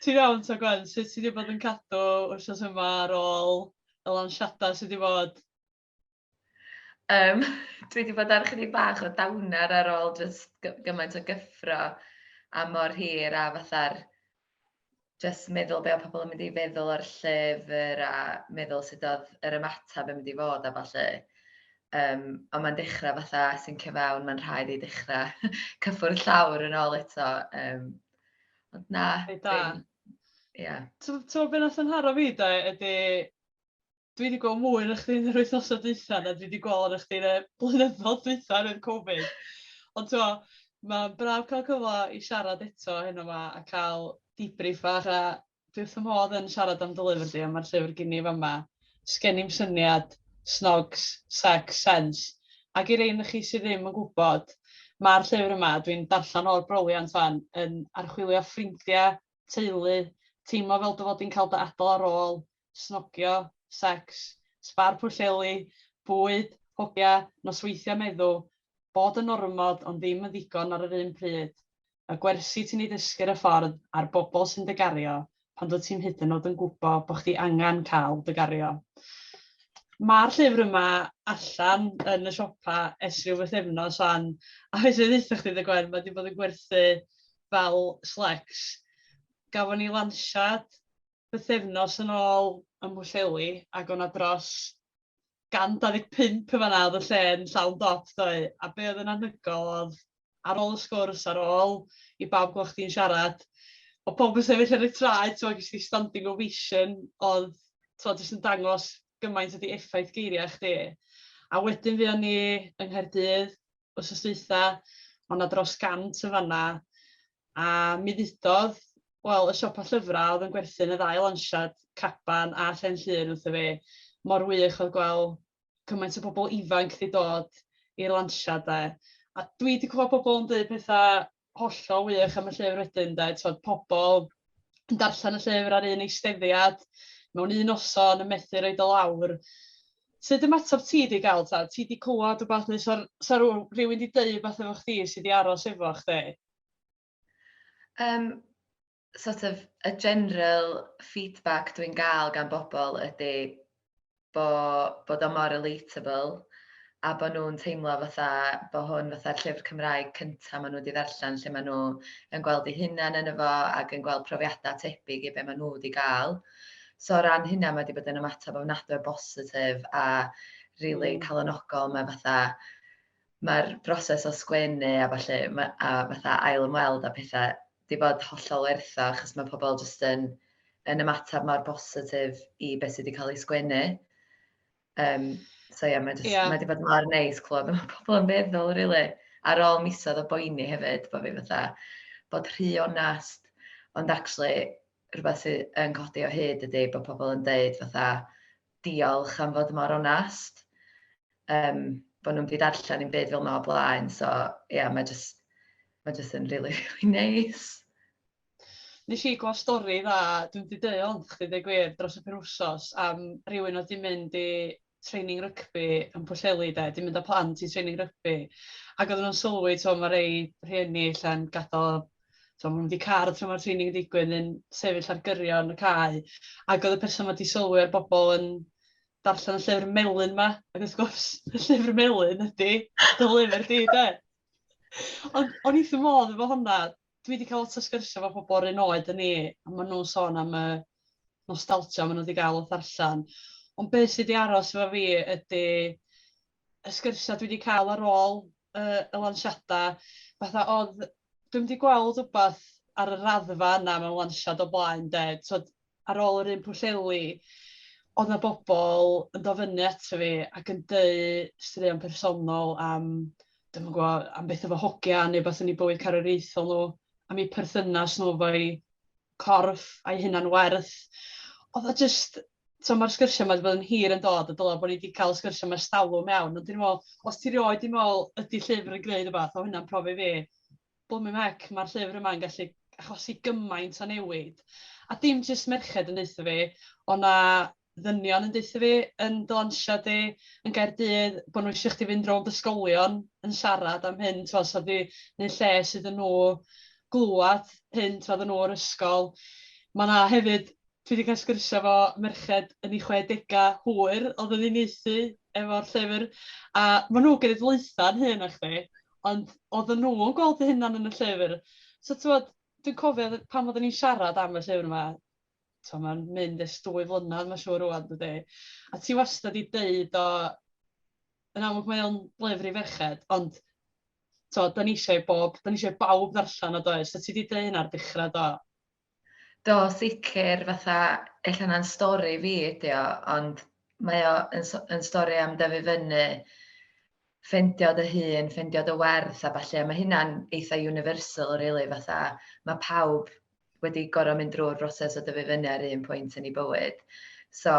Ti'n iawn ta Gwen? Sut ti 'di bod yn cadw wythnos yma ar ôl y lansiadau sy' 'di bod? Yym dwi 'di bod ar chydig bach o downer ar ôl jyst gymaint o gyffro a mor hir a fatha'r jyst meddwl be' o' pobl yn mynd i feddwl o'r llyfr a meddwl sut odd yr ymateb yn mynd i fod a ballu. Yym ond mae'n dechrau fatha sincio fewn, mae'n rhaid i dechrau cyffwrdd llawr yn ôl eto. Yym ond na, dwi'n... Ie. Ti'n gwybod beth wnaeth fy nharo fi de ydy... dwi wedi gweld mwy na chdi yn yr wythnosau dwytha na dwi wedi gweld arna chdi yn y blynyddoedd dwytha oherwydd Covid. Ond ti'n gwybod, mae'n braf cael cyfle i siarad eto heno yma a cael debrief fach a dwi wrth fy modd yn siarad am dy lyfr di a mae'r llyfr gen i fama. Sgen i'm syniad, snogs, sex, sense. Ac i'r ein chi sydd ddim yn gwybod, mae'r llyfr yma, dwi'n darllen o'r broliant fan, yn archwilio ffrindiau, teulu, teimlo fel dy fod i'n cael dy adael ar ôl, snogio, secs, sbar Pwllheli, bwyd, hogia, nosweithio meddw, bod yn ormod ond ddim yn ddigon ar yr un pryd, y gwersi ti'n eu dysgu'r y ffordd a'r bobl sy'n dy gario pan dwyt ti'm hyd yn nod yn gwbo bo chdi angan cael dy gario. Ma'r llyfr yma allan yn y siopa ers rhyw fythefnos wan a fedrai ddeutha chdi dy Gwen ma di bod yn gwerthu fel slecs. Gafon ni lansiad bythefnos yn ôl ym Mhwllheli ac oedd 'na dros 125 yn fan'na, oedd y lle yn llawn dop doedd, a be oedd yn anhygoel oedd ar ôl y sgwrs, ar ôl i bawb gweld chdi'n siarad, oedd pawb yn sefyll ar y traed, ti'n gwbod, ges di standing ovation, oedd t'mo' jyst yn dangos gymaint ydi effaith geiriau chdi. A wedyn fuon ni yng Nghaerdydd, wythnos dwytha, o' 'na dros 100 yn fan'na, a mi ddudodd, wel, y siopa llyfra' o'dd yn gwerthu'n y ddau lansiad, Caban a Llên Llŷn, wrtho fi, mor wych o'dd gwel' cymaint o bobol ifanc 'di dod i'r lansiad 'de, a dwi 'di clwad pobol yn deud petha hollol wych am y llyfr wedyn de, tibod pobl yn darllen y llyfr ar un eisteddiad mewn un noson yn methu roed o lawr. Sut ymateb ti wedi cael ta? Ti wedi clywed rhywbeth neu sa sa rhyw- rhywun wedi deud rhywbeth efo chdi sydd wedi aros efo chdi? Yym sort of y general feedback dwi'n gael gan bobl ydy bo, bod o mor relatable a bod nhw'n teimlo fatha bod hwn fatha'r llyfr Cymraeg cyntaf maen nhw wedi ddarllen lle maen nhw yn gweld eu hunain yn efo ac yn gweld profiadau tebyg i be maen nhw wedi gael. So o ran hynna mae wedi bod yn ymateb ofnadwy o bositif a really mm. calonogol. Mae fatha, mae'r broses o sgwennu a falle, a fatha ail ymweld a pethau 'di bod hollol werth o achos mae pobl jyst yn yn ymateb mor bositif i beth sydd wedi cael ei sgwennu. Um, so ie, yeah, mae yeah. ma wedi bod mor neis clywed mae pobl yn meddwl, really. Ar ôl misoedd o boeni hefyd, bod fi fatha, bod rhy onest, ond actually rhywbeth sydd yn codi o hyd ydy bod pobl yn deud fatha, diolch am fod mor onest, yym, bod nhw'm 'di darllen un byd fel 'ma o blaen, so ia, mae jyst, mae jyst yn rili rili neis. Nes i glywed stori dda, dwi'm 'di deud hon chdi deud gwir, dros y penwsos am rywun oedd 'di mynd i training rygbi yn Pwllheli de, 'di mynd â plant i training rygbi ac oedden nhw'n sylwi t'mo' ma' rei rhieni ella'n gadael tibod, maen nhw wedi car a tra mae'r training yn digwydd yn sefyll ar gyrion y cae. Ac oedd y person wedi sylwi ar bobl yn darllen y llyfr melyn ma. Ac wrth gwrs, y llyfr melyn ydy dy lyfr di, de. Ond o'n i'n modd efo hwnna. Dwi wedi cael lot o sgyrsiau efo pobl o'r un oed yn ni, a maen nhw'n sôn am y nostalgia maen nhw wedi cael wrth ddarllen. Ond beth sydd wedi aros efo fi ydy y sgyrsiau dwi 'di cael ar ôl y y lansiadau, fatha oedd... dwi'm 'di gweld wbath ar y raddfa yna mewn lansiad o blaen 'de, t'mod ar ôl yr un Pwllheli oedd 'na bobl yn dod fyny ato fi ac yn deud straeon personol am, dwi'm yn gwybod, am beth efo hogia neu wbath yn eu bywyd carwriaethol nhw, am eu perthynas nhw efo'u corff a'i hunan-werth. Oedd o jyst, tibod mae'r sgyrsiau yma wedi bod yn hir yn dod a dylai bod ni wedi cael y sgyrsiau yma ers talwm iawn, ond dwi'n meddwl, os ti rioed wedi meddwl ydy llyfr yn gwneud rhywbeth, oedd hynna'n profi fi, blymin mec, mae'r llyfr yma'n gallu achosi gymaint o newid. A dim jyst merched yn deutha fi, oedd 'na ddynion yn deutha fi yn dy lansio di yn Gaerdydd bo' nhw isio chdi fynd rownd ysgolion yn siarad am hyn t'mo' so di neu' lles iddyn nhw glwad hyn t'mo' oddan nhw o'r ysgol. Ma' 'na hefyd dwi 'di ca'l sgyrsia efo merched yn eu chwedega hwyr odd yn uniaethu efo'r llyfr a ma' nhw genedlaetha'n hŷn na chdi ond oddan nhw yn gweld eu hunan yn y llyfr so t'mod dwi'n cofio pan oddan ni'n siarad am y llyfr 'ma tibod mae'n mynd ers dwy flynedd mae'n siŵr rŵan dydy? A ti wastad wedi deud o, yn amlwg mae o'n lyfr i ferched ond tibod dan ni eisiau i bob, dan ni eisiau i bawb ddarllen o does? So ti wedi deud hynna ar dechrau do? Do, sicr, fatha, ella na'n stori fi ydi o, ond mae o yn, yn stori am dyfu fyny, ffendio dy hun, ffendio dy werth a falle, a mae hynna'n eitha universal, really, fatha, mae pawb wedi gorfod mynd drwy'r broses o dyfu fyny ar un pwynt yn ei bywyd. So,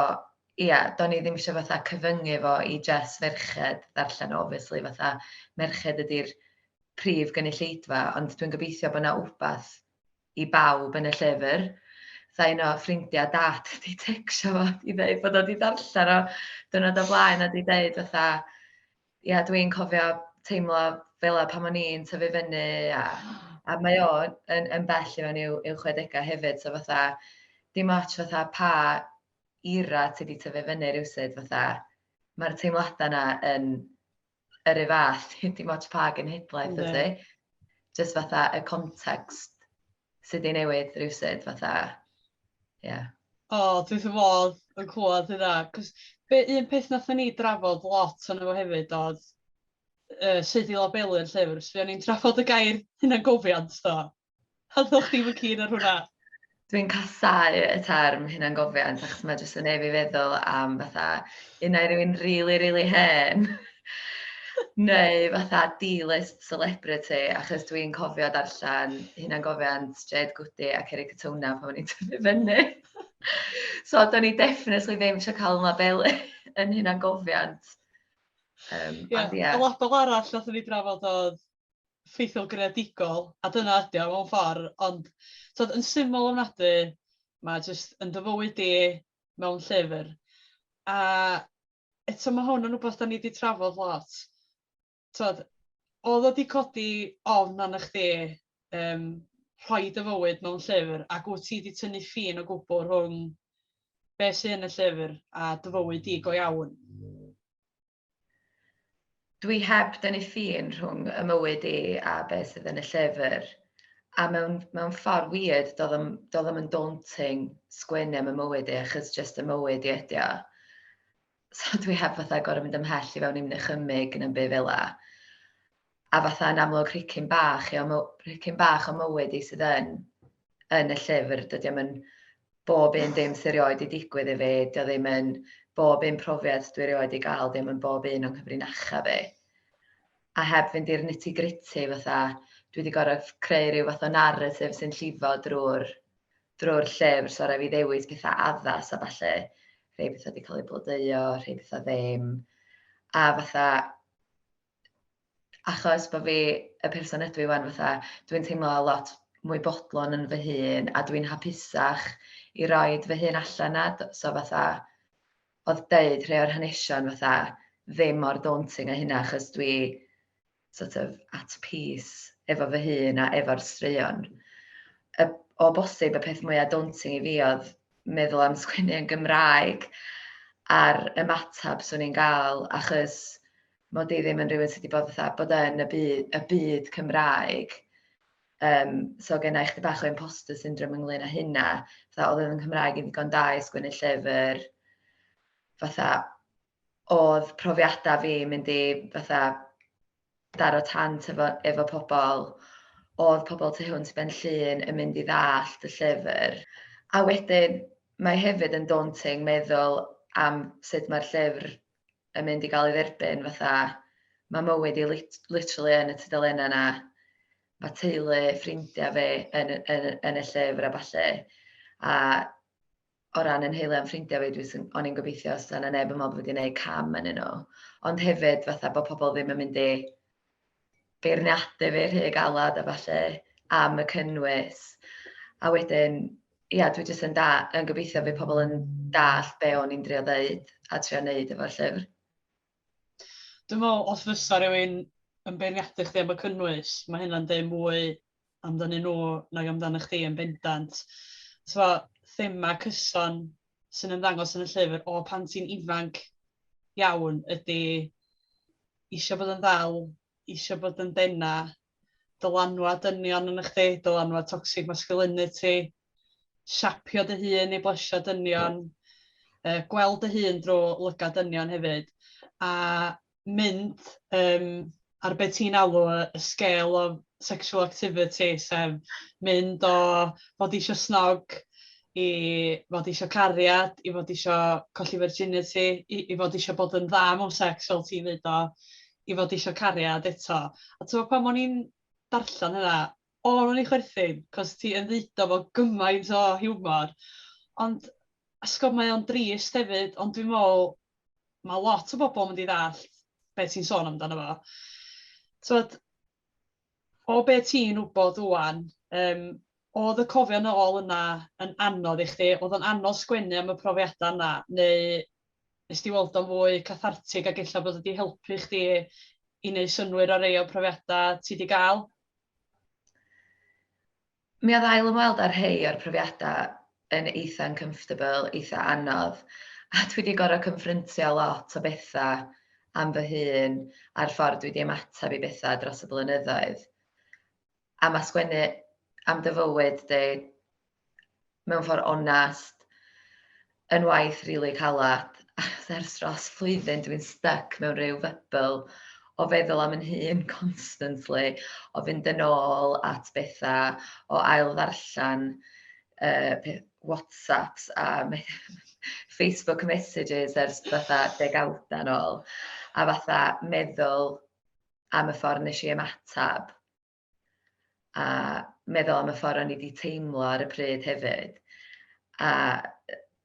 ia, yeah, do'n i ddim eisiau fatha cyfyngu fo i jes ferched ddarllen, obviously, fatha merched ydy'r prif gynulleidfa, ond dwi'n gobeithio bod yna wbath i bawb yn y llyfr. Tha un o ffrindiau dad wedi tecsio fo i ddeud bod o wedi darllen o dwrnod o blaen a wedi deud fatha, ia dwi'n cofio teimlo fela pan o'n i'n tyfu fyny a a mae o yn yn bell i mewn i'w i'w chwedegau hefyd so fatha dim ots fatha pa era ti 'di tyfu fyny rywsut fatha mae'r teimladau yna yn yr un fath dim ots pa genhedlaeth wyt ti. Jyst fatha y context sy 'di newid rywsut fatha, ia. O, dwi wrth fy modd yn clywed hynna, cos be un peth nathon ni drafod lot ono fo hefyd oedd yy sut i labelu'r llyfr, so fuon ni'n trafod y gair hunangofiant do, a oeddach chdi'm yn keen ar hwnna. Dwi'n casáu y term hunangofiant achos mae jyst yn ei fi feddwl am fatha unai rywun rili rili hen neu fatha dilys celebrity, achos dwi'n cofio darllen hunangofiant Jade Goody a Ceri Katona pan o'n i'n tyfu fyny. so, do'n i definitely ddim eisiau cael yma belu yn hunangofiant. Um, yeah, ond, yeah. A lot o arall nath ni drafod oedd ffeithiol greadigol, a dyna ydi o mewn ffordd, ond tod, yn syml o'n ofnadwy, mae jyst yn dyfywyd di mewn llyfr. A eto mae hwn yn rhywbeth da ni wedi trafod lot. Tibod, oedd o 'di codi ofn arna chdi yym rhoi dy fywyd mewn llyfr ac wyt ti 'di tynnu ffin o gwbl rhwng be sy yn y llyfr a dy fywyd di go iawn? Dwi heb dynnu ffin rhwng y mywyd i a be sydd yn y llyfr a mewn mewn ffordd weird do'dd o'm do'dd o'm yn daunting sgwennu am y mywyd i achos jyst y mywyd i ydi o. so dwi heb fatha gorau mynd ymhell i fewn i'n nychymig yn ymbu fel la. A fatha yn amlwg rhicyn bach, i o, rhicyn bach o mywyd i sydd yn, yn y llyfr, dydy am yn bob un dim sy'n rioed i digwydd i fi, dy o ddim yn bob un profiad dwi rioed i gael, ddim yn bob un o'n cyfrinacha fi. A heb fynd i'r nitty gritty fatha, dwi wedi gorau creu rhyw fath o narratif sy'n llifo drwy'r drwy'r llyfr, so rhaid fi ddewis pethau addas a falle rhai pethau wedi cael eu blodeuo, rhai pethau ddim. A fatha, achos bod fi y person ydw i wan, fatha, dwi'n teimlo lot mwy bodlon yn fy hun a dwi'n hapusach i roed fy hun allan na. So fatha, oedd deud rhai o'r hanesion fatha ddim mor daunting a hynna achos dwi sort of at peace efo fy hun a efo'r straeon. Y, o bosib y peth mwyaf daunting i fi oedd meddwl am sgwennu yn Gymraeg a'r ymateb swn i'n gael, achos mod i ddim yn rhywun sydd wedi bod fatha bod yn y byd, y byd Cymraeg. Um, so gen i chdi bach o imposter syndrome ynglyn â hynna. Fatha, oedd yn Cymraeg yn ddigon da i sgwennu llyfr. Fatha, oedd profiadau fi mynd i fatha daro tant efo, efo pobl, oedd pobl tu hwnt i Benllyn yn mynd i ddallt y llyfr. A wedyn, mae hefyd yn daunting meddwl am sut mae'r llyfr yn mynd i gael ei dderbyn, fatha mae mywyd i lit literally yn y tudalennau yna, mae teulu, ffrindiau fi yn, yn, yn y llyfr a falle, a o ran 'y nheulu a'm ffrindia fi dwi jys o'n i'n gobeithio 'sa 'na neb yn meddwl bo' fi 'di neud cam ynddyn nhw ond hefyd fatha bo' pobl ddim yn mynd i beirniadu fi rhy galad a ballu am y cynnwys a wedyn ia dwi jys yn da- yn gobeithio fydd pobl yn dallt be' o'n i'n drio ddeud a trio neud efo'r llyfr. Dwi'n meddwl os fysa rhywun yn beirniadu chdi am y cynnwys, mae hynna'n deud mwy amdanyn nhw nag amdano chdi yn bendant. So, thema cyson sy'n ymddangos yn y llyfr o pan ti'n ifanc iawn ydy eisiau bod yn ddal, eisiau bod yn dena, dylanwad dynion yn chdi, dylanwad toxic masculinity, siapio dy hun i blesio dynion, uh, gweld dy hun drwy lygad dynion hefyd, a mynd um, ar beth ti'n alw y scale of sexual activity, sef mynd o fod eisiau snog i fod eisiau cariad, i fod eisiau colli virginity, i, i fod eisiau bod yn dda mewn sex fel ti'n dweud o, i fod isio cariad eto. A tibod pan o'n i'n darllen hynna, o, o'n i'n chwerthin, cos ti yn ddeud o fo gymaint o hiwmor. Ond, a sgwb, mae o'n drist hefyd, ond dwi'n meddwl, mae lot o bobl yn mynd i ddallt beth ti'n sôn amdano fo. Tibod, o be ti'n wybod ŵan, yym, oedd y cofio nôl yna yn anodd i chdi? Oedd o'n anodd sgwennu am y profiadau yna, neu nes di weld o'n fwy cathartig ac ella bod wedi helpu chdi i wneud synnwyr ar rei o'r profiadau ti wedi gael? Mi oedd ail ymweld â rhei o'r profiadau yn eitha' uncomfortable, eitha' anodd, a dwi 'di gorfod cynffryntio lot o bethau am fy hun a'r ffordd dwi 'di ymateb i bethau dros y blynyddoedd. A ma' sgwennu am dy fywyd di mewn ffordd onest, yn waith rili caled, achos ers dros flwyddyn dwi'n styc mewn rhyw fybl o feddwl am yn hun constantly, o fynd yn ôl at bethau, o ail ddarllen uh, Whatsapps a me Facebook messages ers fatha degawdau yn ôl, a fatha meddwl am y ffordd nes i ymateb a meddwl am y ffordd o'n i 'di teimlo ar y pryd hefyd, a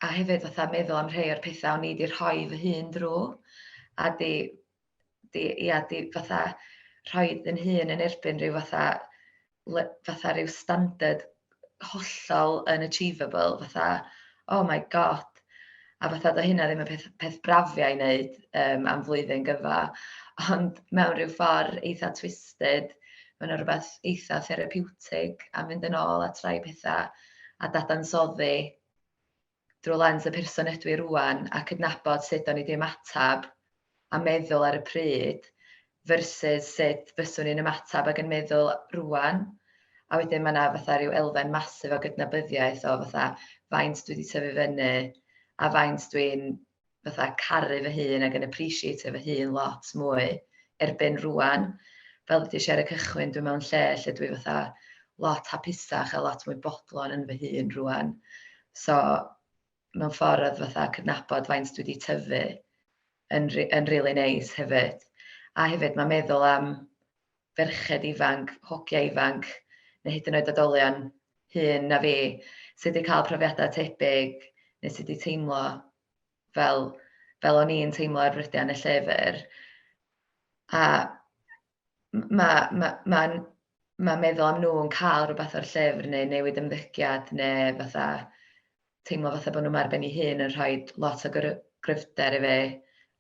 a hefyd fatha meddwl am rhai o'r pethau o'n i 'di rhoi fy hun drwy, a 'di 'di ia 'di fatha rhoi fy hun yn erbyn rhyw fatha le- fatha ryw standard hollol unachievable, fatha, oh my God. A fatha, doedd hynna ddim yn peth, peth brafiau i wneud um, am flwyddyn gyfa, ond mewn rhyw ffordd eitha twisted, mae yna rhywbeth eitha therapeutig a mynd yn ôl at rai pethau a dadansoddi drwy lens y person ydw i rŵan a cydnabod sut o'n i 'di ymateb a meddwl ar y pryd versus sut fyswn i'n ymateb ac yn meddwl rŵan. A wedyn mae yna fatha rhyw elfen massive o gydnabyddiaeth o fatha faint dwi 'di tyfu fyny a faint dwi'n fatha caru fy hun ac yn appreciatio fy hun lot mwy erbyn rŵan. Fel ddudais i ar y cychwyn, dwi mewn lle lle dwi fatha lot hapusach a lot mwy bodlon yn fy hun rŵan. So mewn ffordd oedd fatha cydnabod faint dwi wedi tyfu yn, yn really neis hefyd. A hefyd mae meddwl am ferched ifanc, hogiau ifanc, neu hyd yn oed oedolion hŷn na fi sydd wedi cael profiadau tebyg neu sydd wedi teimlo fel, fel o'n i'n teimlo ar frydiau yn y llyfr. A mae ma, ma, ma meddwl am nhw yn cael rhywbeth o'r llyfr neu newid ymddygiad neu fatha teimlo fatha bod nhw'n arbenn ei hun yn rhoi lot o gryfder i fi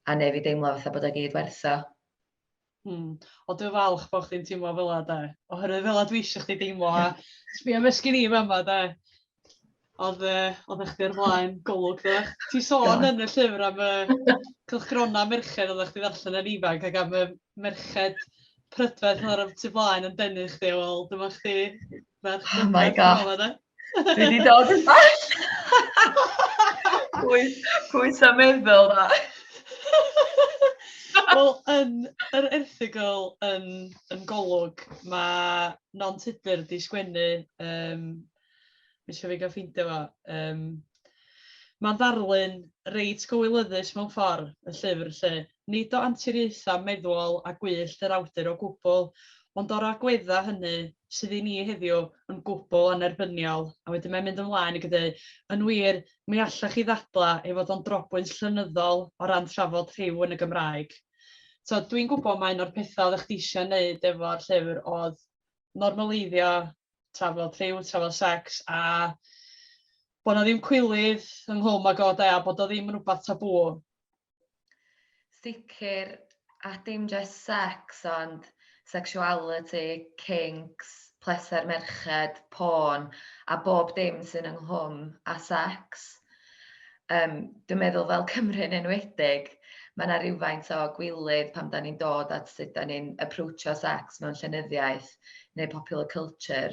a neu fi deimlo fatha bod o gyd wertho. Hmm. O dwi'n falch bod chdi'n teimlo fel yna 'de, oherwydd fel yna dwi isio chdi deimlo a sbïa be sgin i yn fama 'de. Oedd yy oeddach chdi ar flaen Golwg doeddach? Ti'n sôn yn y llyfr am y cylchgronau merched oeddach chdi'n ddarllen yn ifanc ac am y merched prydferth oedd ar y tu flaen yn denu chdi, wel dyma chdi ferch prydferth yn fama 'de. Dwi 'di dod yn bell! Pwy, pwy 'sa meddwl na? Wel, yn yr erthygl yn yn Golwg, ma' Non Tudur 'di sgwennu, yym, ma' isio fi gael ffeindio fo, yym... Mae'n ddarlun reit gywilyddus mewn ffordd, y llyfr, lle. Nid o anturiaethau meddwol a gwyllt yr awdur o gwbl, ond o'r agweddau hynny, sydd i ni heddiw yn gwbl annerbyniol. A wedyn mae'n mynd ymlaen ac yn dweud, yn wir, mi allech chi ddadlau ei fod o'n drobwynt llenyddol o ran trafod rhyw yn y Gymraeg. Tibod, dwi'n gwybod mai un o'r pethau oeddech chdi eisiau ei wneud efo'r llyfr oedd normaleiddio trafod rhyw, trafod sex, a bod na ddim cwilydd ynghlwm ag o de, a bod o ddim yn rhywbeth tabŵ. Sicr, a dim just sex, ond sexuality, kinks, pleser merched, porn, a bob dim sy'n ynghlwm â sex. Yym, dwi'n meddwl fel Cymru yn enwedig, mae yna rywfaint o gwilydd pan da ni'n dod at sut da ni'n approachio sex mewn llenyddiaeth neu popular culture.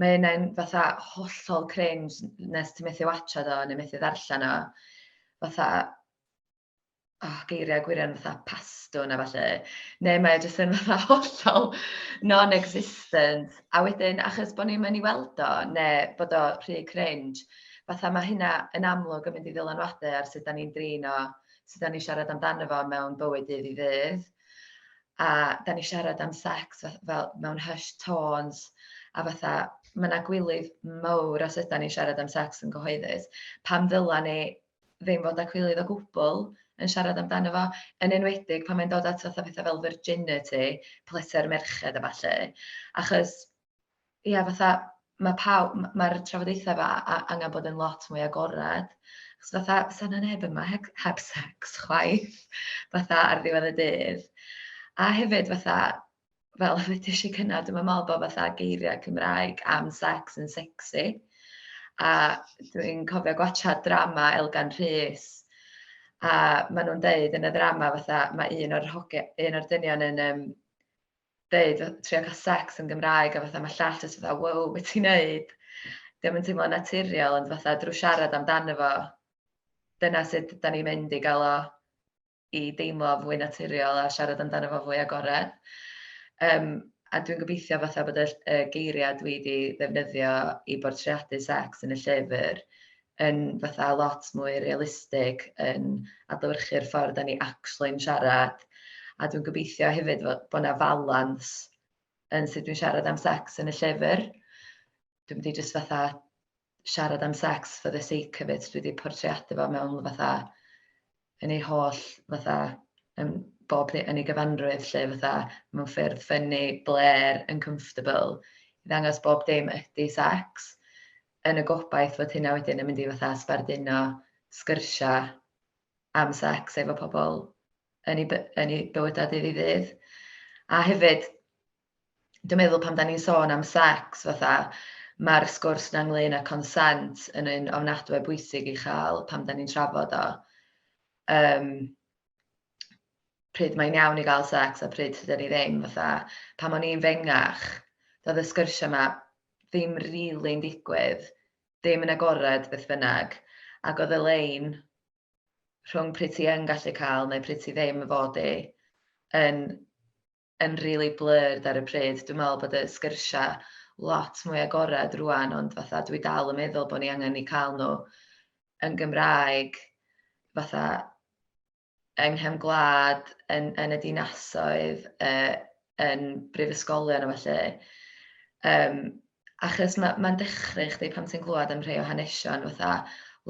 Mae yna'n fatha hollol cringe nes ti methu watcha do neu methu ddarllen o. Fatha, oh, geiriau gwirion fatha pastwn a falle, neu mae o jyst yn fatha hollol non-existent. A wedyn, achos bod ni'n mynd i weld o, neu bod o rhy cringe, fatha mae hynna yn amlwg yn mynd i ddylanwadu ar sut da ni'n drin o, sut da ni'n siarad amdano fo mewn bywyd dydd i ddydd. A da ni'n siarad am sex fel mewn hushed tones, a fatha mae yna gwilydd mawr os ydy ni'n siarad am sex yn gyhoeddus. Pam ddyla ni ddim fod â cwilydd o gwbl yn siarad amdano fo, yn enwedig pan mae'n dod at fatha pethau fel virginity, pleser merched a ballu. Achos, ia, fatha, mae pawb, mae'r trafodaethau fa angen bod yn lot mwy agored. Achos fatha, sa na neb yma heb, heb sex chwaith, fatha ar ddiwedd y dydd. A hefyd fatha, fel ddeudais i gynna, dwi'm yn meddwl bod fatha geiriau Cymraeg am sex yn sexy, a dwi'n cofio gwachad drama Elgan Rhys, a maen nhw'n deud yn y ddrama fatha, mae un o'r hoge, un o'r dynion yn um, deud, trio cael sex yn Gymraeg, a fatha mae llall jyst fatha, wow, beth ti'n neud? Ddim yn teimlo naturiol, ond fatha drwy siarad amdano fo, dyna sut da ni'n mynd i gael o i deimlo fwy naturiol a siarad amdano fo fwy agored. Yym a dwi'n gobeithio fatha bod y ll- y geiriau dwi 'di ddefnyddio i bortreadu secs yn y llyfr yn fatha lot mwy realistig yn adlewyrchu'r ffordd dan ni actually'n siarad, a dwi'n gobeithio hefyd fo- bod 'na falans yn sut dwi'n siarad am secs yn y llyfr. dwi mynd i jyst fatha siarad am sex for the sake of it, dwi 'di portreadu fo mewn fatha yn ei holl fatha yn bob ne- yn ei gyfanrwydd 'lly fatha mewn ffyrdd ffyni, blêr, uncomfortable i ddangos bob dim ydy sex yn y gobaith fod hynna wedyn yn mynd i fatha sbarduno sgyrsiau am sex efo pobl yn ei by- yn ei bywydau dydd i ddydd. A hefyd dwi'n meddwl pan da ni'n sôn am sex fatha mae'r sgwrs na ynglyn â consent yn un ofnadwy bwysig i chael pan da ni'n trafod o. Um, pryd mae'n iawn i gael sex a pryd sydd ni ddim fatha pan o'n i'n fengach doedd y sgyrsiau yma ddim rili'n really digwydd ddim yn agored beth bynnag ac oedd y lein rhwng pryd ti yn gallu cael neu pryd ti ddim yn fod i yn yn rili blurred ar y pryd. Dwi'n meddwl bod y sgyrsiau lot mwy agored rwan, ond fatha dwi dal yn meddwl bod ni angen ni cael nhw yn Gymraeg, fatha yng nghefn gwlad, yn, yn y dinasoedd, uh, yn brifysgolion a felly. Um, achos mae'n ma, ma dechrau chdi pan ti'n glwad am rhai o hanesion, fatha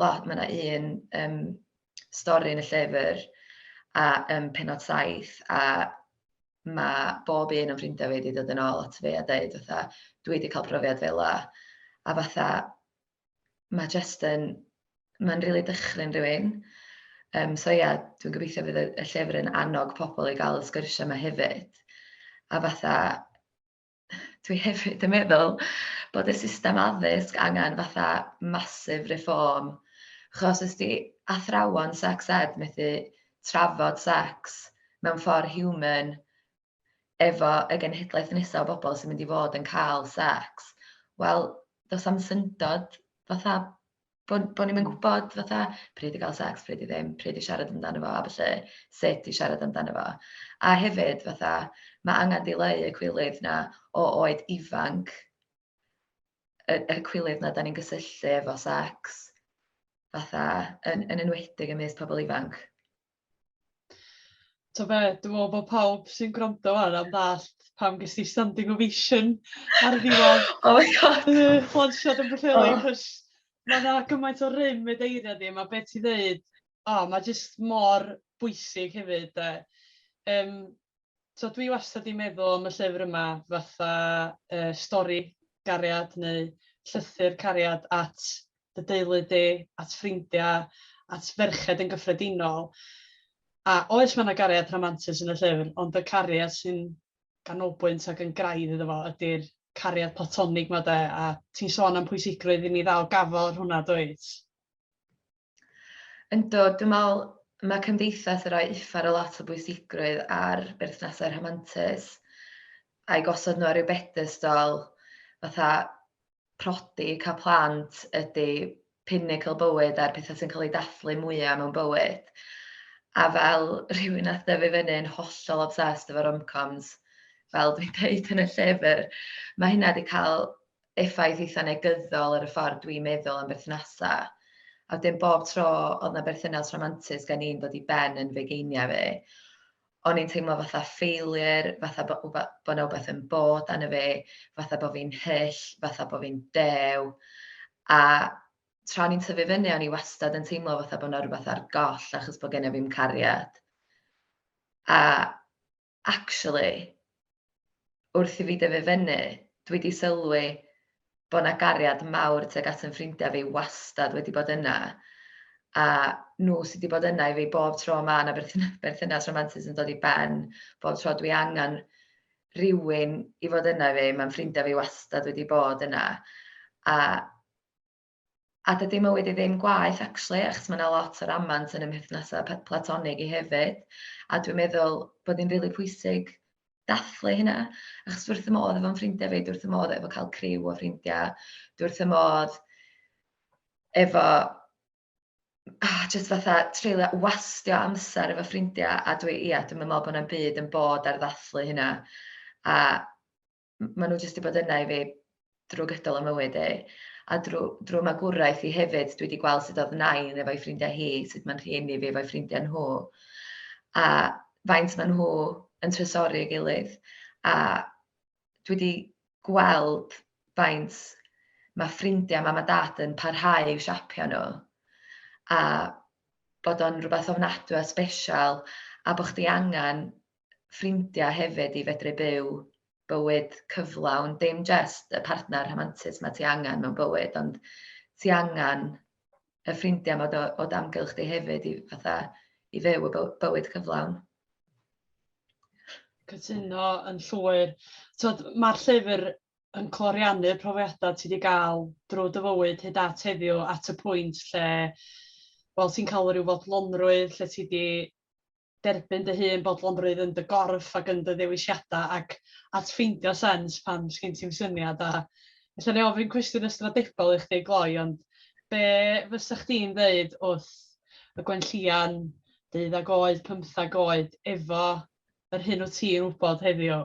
lot, mae yna un um, stori yn y llyfr a ym penod saith a mae bob un o'n ffrindiau fi wedi dod yn ôl at fi a dweud fatha dwi wedi cael profiad fel la a fatha mae jyst yn mae'n rili really dychryn rhywun. Um, so ia, yeah, dwi'n gobeithio fydd y, y llyfr yn annog pobl i gael y sgyrsiau yma hefyd. A fatha, dwi hefyd yn meddwl bod y system addysg angen fatha massive reform. Chos os di athrawon sex ed methu trafod sex mewn ffordd human efo y genhedlaeth nesaf o bobl sy'n mynd i fod yn cael sex, wel, does am syndod fatha Bo' bo' ni'm yn gwbod fatha pryd i ga'l sex pryd i ddim, pryd i siarad amdano fo a ballu, sut i siarad amdano fo. A hefyd fatha ma' angan dileu y cwilydd 'na o oed ifanc, y y cwilydd 'na 'dan ni'n gysylltu efo sex fatha yn yn enwedig ymysg pobol ifanc. Ti'n gwybod be, dwi'n meddwl bod pawb sy'n gwrando ar hwn am ddallt pam ges ti standing ovation ar y diwedd. oh my god! Flansiad yn Pwllheli, cos mae yna gymaint o rym y deiriau di, mae beth ti'n dweud, oh, mae jyst mor bwysig hefyd. Um, Tibod, dwi wastad 'di meddwl am y llyfr yma fatha yy stori gariad neu llythyr cariad at dy deulu di, at ffrindiau, at ferched yn gyffredinol. A oes, mae 'na gariad rhamantus yn y llyfr, ond y cariad sy'n ganolbwynt ac yn graidd iddo fo ydy'r cariad platonig 'ma de, a ti'n sôn am pwysigrwydd i mi ddal gafael ar hwnna, dwyt? Yndw, dwi'n meddwl mae cymdeithas yn rhoi uffar o lot o bwysigrwydd ar berthnasau rhamantus a'i gosod nhw ar ryw bedestol fatha prodi, cael plant ydy pinnacle bywyd a'r pethau sy'n cael eu dathlu mwyaf mewn bywyd. A fel rhywun nath dyfu fyny yn hollol obsessed efo romcoms, fel dwi'n dweud yn y llyfr, mae hynna wedi cael effaith eitha' negyddol ar y ffordd dwi'n meddwl am berthnasau, a wedyn bob tro oedd 'na berthynas rhamantus gen i'n dod i ben yn fugeiniau fi, o'n i'n teimlo fatha failure, fatha bo' wba- bo' 'na wbath yn bod arno fi, fatha bo' fi'n hyll, fatha bo' fi'n dew, a tra o'n i'n tyfu fyny o'n i wastad yn teimlo fatha bo' 'na rywbeth ar goll achos bo' genna fi'm cariad. A Actually, wrth i fi dyfu fyny, dwi 'di sylwi bod 'na gariad mawr tuag at 'y ffrindiau fi wastad wedi bod yna, a nhw sy' 'di bod yna i fi bob tro ma' 'na berthyna- berthynas rhamantus yn dod i ben, bob tro dwi angen rhywun i fod yna i fi, ma' 'y ffrindiau fi wastad wedi bod yna, a A dydi mywyd i ddim gwaeth actually achos mae 'na lot o ramant yn y mhethnasau pe- platonig i hefyd a dwi'n meddwl bod hi'n rili pwysig dathlu hynna achos dwi wrth fy modd efo'n ffrindiau fi, dwi wrth fy modd efo cael criw o ffrindiau, dwi wrth fy modd efo ah, jyst fatha treulio wastio amser efo ffrindiau a dwi ia dwi'm yn meddwl bod 'na'm byd yn bod ar ddathlu hynna a maen nhw jyst wedi bod yna i fi drwy gydol y mywyd i. A drwy, drwy magwraeth i hefyd, dwi wedi gweld sut oedd nain efo'i ffrindiau hi, sut mae'n rhieni fi efo'i ffrindiau nhw. A faint maen nhw yn trysori ei gilydd. A dwi wedi gweld faint mae ffrindiau mam a dad yn parhau i'w siapio nhw. A bod o'n rhywbeth ofnadwy a special a bod chdi angen ffrindiau hefyd i fedru byw bywyd cyflawn, dim jyst y partner rhamantus mae ti angen mewn bywyd, ond ti angen y ffrindiau mae o, o damgylch di hefyd i, fatha, i fyw y bywyd cyflawn. Cytuno yn llwyr. Mae'r llyfr yn cloriannu'r profiadau ti wedi gael drwy dy fywyd hyd at heddiw at y pwynt lle wel, ti'n cael rhyw fodlonrwydd, lle ti wedi derbyn dy hun bodlonrwydd yn dy gorff ac yn dy ddewisiadau ac at ffeindio sens pan sgin ti'm syniad a ella wna i ofyn cwestiwn ystradebol i chdi gloi ond be fysa chdi'n ddeud wrth y gwenllian deuddag oed, pymthag oed efo yr hyn wyt ti'n wybod heddiw?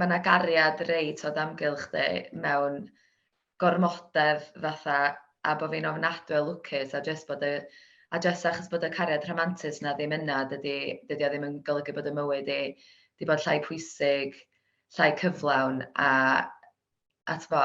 mae yna gariad reit o damgylch di mewn gormodedd fatha a bod fi'n ofnadwy o lwcus a jyst bod y a jyst achos bod y cariad rhamantus na ddim yna dydy dydy o ddim yn golygu bod y mywyd i di bod llai pwysig, llai cyflawn a a t'bo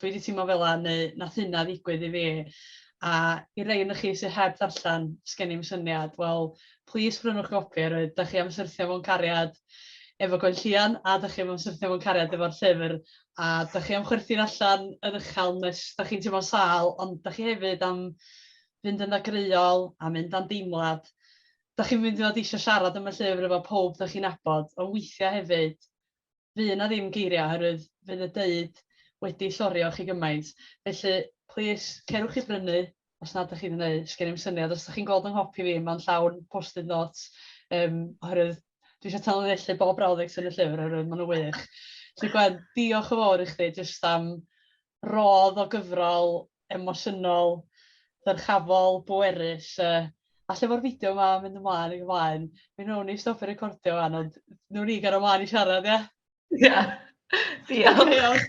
dwi 'di teimlo fel 'na, neu nath hynna ddigwydd i fi. A i rei ohonoch chi sydd heb ddarllen, sgen i'm syniad, wel, plis brynwch gopi oherwydd da chi am syrthio mewn cariad efo Gwenllian, a da chi am syrthio mewn cariad efo'r llyfr, a da chi am chwerthin allan yn uchel nes da chi'n teimlo'n sâl, ond da chi hefyd am fynd yn ddagreuol a mynd am deimlad. Da chi'n mynd i fod eisiau siarad am y llyfr efo pawb da chi'n nabod, ond weithiau hefyd, fydd 'na ddim geiriau oherwydd fydd y deuud wedi llorio chi gymaint. Felly, plis, cerwch i brynu os nad ydych chi'n yn eu, sgen i'm syniad os ydych chi'n gweld yng nghopi fi, mae'n llawn post-it notes yym oherwydd dwi eisiau tanlinellu bob brawddeg sy'n y llyfr oherwydd maen nhw'n wych. Felly Gwen, diolch yn fawr i chdi jyst am rodd o gyfrol emosiynol, dyrchafol, bwerus yy a lle ma'r fideo ma mynd ymlaen ag ymlaen. Mi newn ni stopio recordio ŵan ond newn ni gario mlaen i siarad ia? Ia. Diolch.